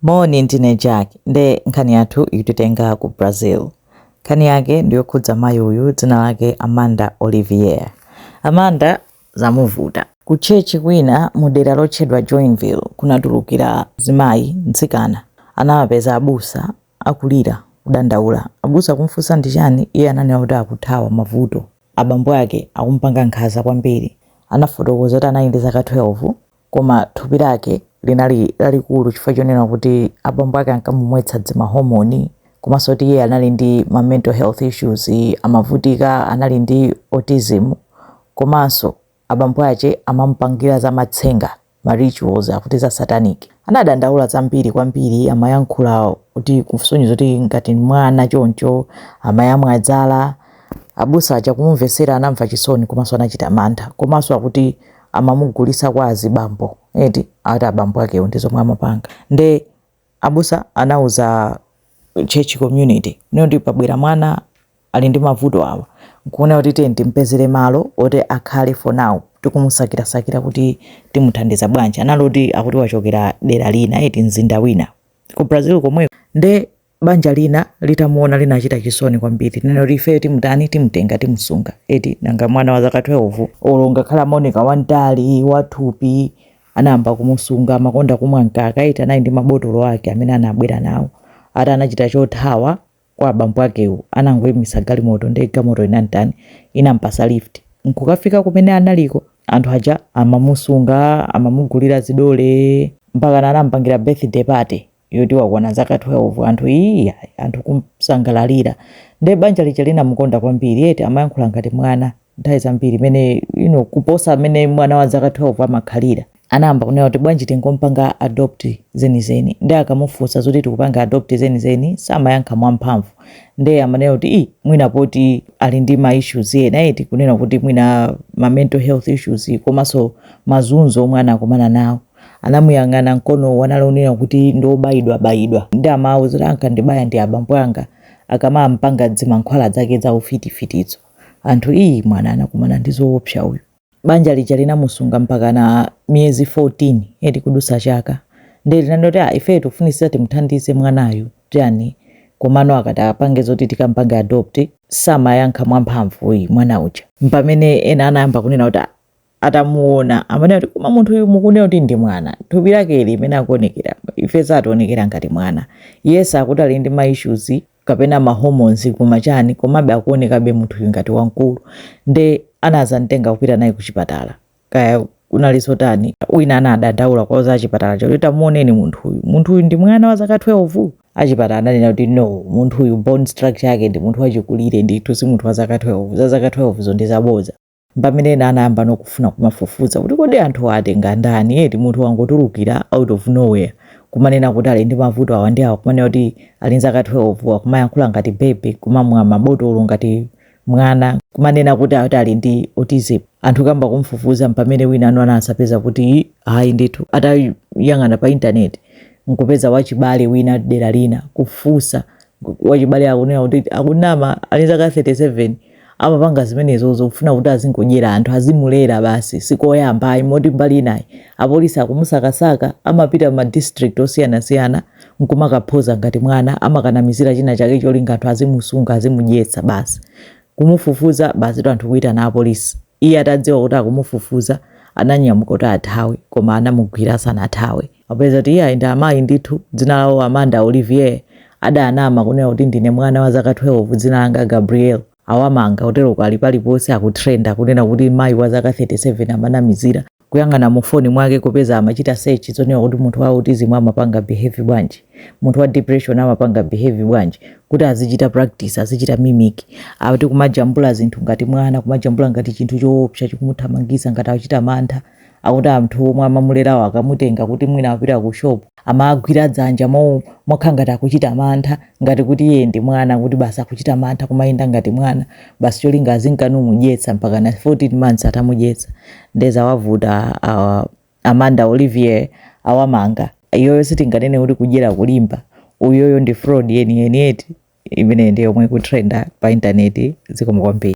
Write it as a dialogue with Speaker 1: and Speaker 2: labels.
Speaker 1: Moni ndine Jack nde nkhani yathu ikutitenga ku Brazil. Nkhani yake ndiyokhudza mayi uyu dzina lake Amanda Olivier. Amanda zamuvuta. Ku church kwina mu dera lotchedwa Joinville kunatulukira mzimayi, mtsikana, anawapeza abusa akulira, kudandaula. Abusa kumufunsa ndi chani iye ananena kuti akuthawa mavuto. Abambo ake akumupanga nkhaza kwambiri. Anafotokoza kuti anali ndi zaka 12 Koma thupi lake linali lalikulu chifukwa chonena kuti abambo ake ankamumwetsa dzimahomoni komanso kuti iye anali ndi ma mental health issues amavutika anali ndi autism komanso abambo ake amamupangira za matsenga ma rituals akuti za satanic anadandaula zambiri kwambiri amayankhula kusonyeza kuti ngati mwana choncho amayamwa dzala abusa aja kumumvetsera anamva chisoni komanso anachita mantha komanso akuti amamugulisa kwa azibambo eti ati abambo akewo ndi zomwe amapanga nde abusa anauza church community niyo kuti pabwera mwana ali ndi mavuto awa nkuona kuti tiye timpezere malo oti akhale for now tikumusakirasakira kuti timuthandiza bwanji anali kuti akuti wachokera dera lina eti mzinda wina ku brazil komweko nde banja lina litamuona linachita chisoni kwambiri nena kuti ifeyo timutani timutenga timusunga eti nanga mwana wa zaka 12 olo ngakhale amaoneka wamtali wathupi anayamba kumusunga amakonda kumwa mkaka eti anali ndi mabotolo ake amene anabwera nawo ati anachita chothawa kwa abambo akewo anangoyimisa galimoto ndi galimoto inamtani inampasa lift nkukafika kumene analiko anthu aja amamusunga amamugulira zidole mpaka anampangira birthday party yoti wakwana zaka 12 anthu ii anthu kumsangalalira nde banja lija linamukonda kwambiri eti amayankhula ngati mwana nthawi zambiri mmene you know, kuposa mmene mwana wa zaka 12 amakhalira anayamba kunena kuti bwanji tingompanga adopt zenizeni nde akamufunsa zoti tikupanga adopt zenizeni samayankha mwamphamvu nde amanena kuti i mwina poti ali ndi ma issues ena eti kunena kuti mwina ma mental health issues komanso mazunzo omwe anakumana nawo Anamuyang'ana mkonowo anali woonena kuti ndi obayidwa bayidwa nde amawauza kuti ankandibaya ndi abambo anga akamampanga dzimankhwala dzake dza ufiti fitidzo. Anthu ii mwana anakumana ndi zoopsa uyu. Banja lija linamusunga mpakana miyezi 14 eti kudutsa chaka nde linanena kuti aah ifeyo tikufunitsitsa timuthandize mwanayu tani komano akati apange zoti tikampange adopt samayankha mwamphamvu uyu mwana uja. Mpamene ena anayamba kunena kuti aah atamuona amanena kuti koma munthu uyu mukunena kuti ndi mwana thupi lake li mmene akuonekera ife sakutionekera ngati mwana yes akuti ali ndi ma issues kapena ma hormones koma chani komabe akuonekabe munthu uyu ngati wamkulu nde anazamtenga kupita naye kuchipatala kaya kunali zotani wina anadandaula kwa za chipatala chakuti tamuoneni munthu uyu munthu uyu ndi mwana wa zaka 12 achipatala ananena kuti no munthu uyu bone structure yake ndi munthu wachikulire ndithu si munthu wa zaka 12 za zaka 12 zo ndi zaboza mpamene ena anayamba nokufuna kumafufuza kuti kodi anthu watenga ndani eti munthu wangotulukira out of nowhere kumanena kuti ali ndi mavuto awa ndi awa kumanena kuti ali ndi zaka 12 akumayankhula ngati bebe kumamwa mabotolo ngati mwana kumanena kuti ati ali ndi autism anthu kuyamba kumfufuza mpamene wina anazapeza kuti ayi ndithu atayang'ana pa intaneti nkupeza wachibale wina dera lina kufunsa wachibale akunena kuti akunama ali ndi zaka 37 amapanga zimenezozo kufuna kuti azingodyera anthu, azimulera basi, sikoyamba ayi, moti mbali inayi apolisi akumusakasaka, amapita mma district osiyanasiyana nkumakaphoza ngati mwana, amakanamizira china chake cholinga anthu azimusunga, azimudyetsa basi, kumufufuza basitu anthu kuitana apolisi. Iye atadziwa kuti akumufufuza, ananyamuka kuti athawe, koma anamugwira asanathawe. Apeza kuti iyayi ndi amayi ndithu, dzina lawo Amanda Olivier, adanama kunena kuti ndine mwana wa zaka 12 dzina langa Gabriel. Awamanga, kuteroko ali paliponse akutrenda kunena kuti mayi wa zaka 37 amanamizira. kuyang'ana mu phone mwake kupeza amachita search zonena kuti munthu wa autism amapanga behave bwanji munthu wa depression amapanga behave bwanji kuti azichita practice azichita mimic akuti kumajambula zinthu ngati mwana kumajambula ngati chinthu choopsa chikumuthamangisa ngati akuchita mantha akuti anthu omwe amamulerawo akamutenga kuti mwina apita ku shop amagwira dzanja mo mokhala ngati akuchita mantha ngati kuti iye ndi mwana kuti basi akuchita mantha kumayenda ngati mwana basi cholinga azingomudyetsa mpaka na 14 months atamudyetsa nde zawavuta uh, amanda olivier awamanga iyoyo sitinganene kuti kudyera kulimba iyoyo ndi fraud yeniyeni eti imeneyi ndi yomwe ikutrenda pa intaneti zikomo kwambiri